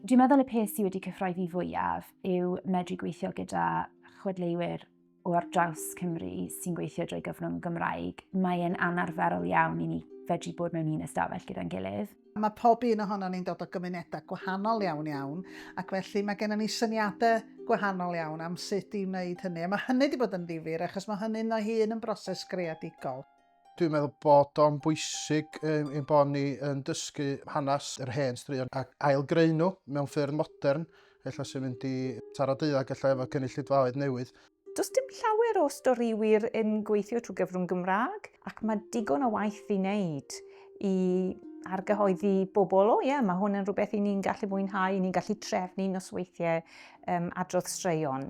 Dwi'n meddwl y peth sydd wedi cyffroi fi fwyaf yw medru gweithio gyda chwedleiwyr o ar draws Cymru sy'n gweithio drwy gyfrwng Gymraeg, mae'n anarferol iawn i ni fedru bod mewn un ystafell gyda'n gilydd. Mae pob un ohonon ni'n dod o gymunedau gwahanol iawn iawn, ac felly mae gennym ni syniadau gwahanol iawn am sut i wneud hynny, a mae hynny wedi bod yn ddifyr achos mae hynny'n ei hun yn broses greadigol. Dwi'n meddwl bod o'n bwysig um, ein bod ni yn dysgu hanes yr hen straeon ac ailgreu nhw mewn ffyrdd modern, efallai sy'n mynd i taro deuddag efallai efo cynulleidfaoedd newydd. Does dim llawer o storïwyr yn gweithio trwy gyfrwng Gymraeg ac mae digon o waith i wneud i argyhoeddi bobl, o ie, yeah, mae hwn yn rhywbeth i ni'n gallu fwynhau, i ni'n gallu trefnu nosweithiau um, adrodd straeon.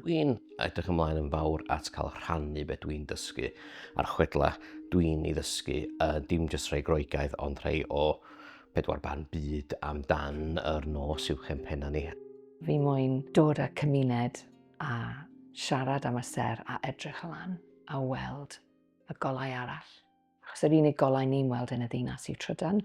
Dwi'n edrych ymlaen yn fawr at cael rhannu beth dwi'n dysgu a'r chwedla dwi'n ei ddysgu, uh, dim jyst rhai groegaidd ond rhai o pedwar barn byd amdan yr nos i'w chempenna ni. Fi moyn dod â cymuned a siarad am y ser a edrych lan a weld y golau arall. Achos yr unig golau ni'n weld yn y ddinas yw trydan.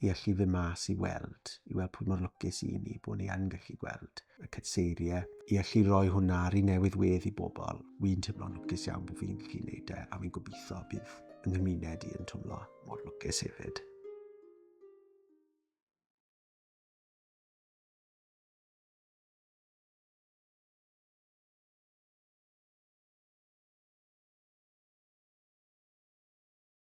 i allu fyn mas i weld, i weld pwy mor lwcus i ni bod ni yn gallu gweld y cytseiriau, i allu rhoi hwnna ar ei newydd wedd i bobl. Wi'n teimlo'n lwcus iawn bod fi'n gallu gwneud e, a fi'n gobeithio bydd yng nghymuned i yn twmlo mor lwcus hefyd.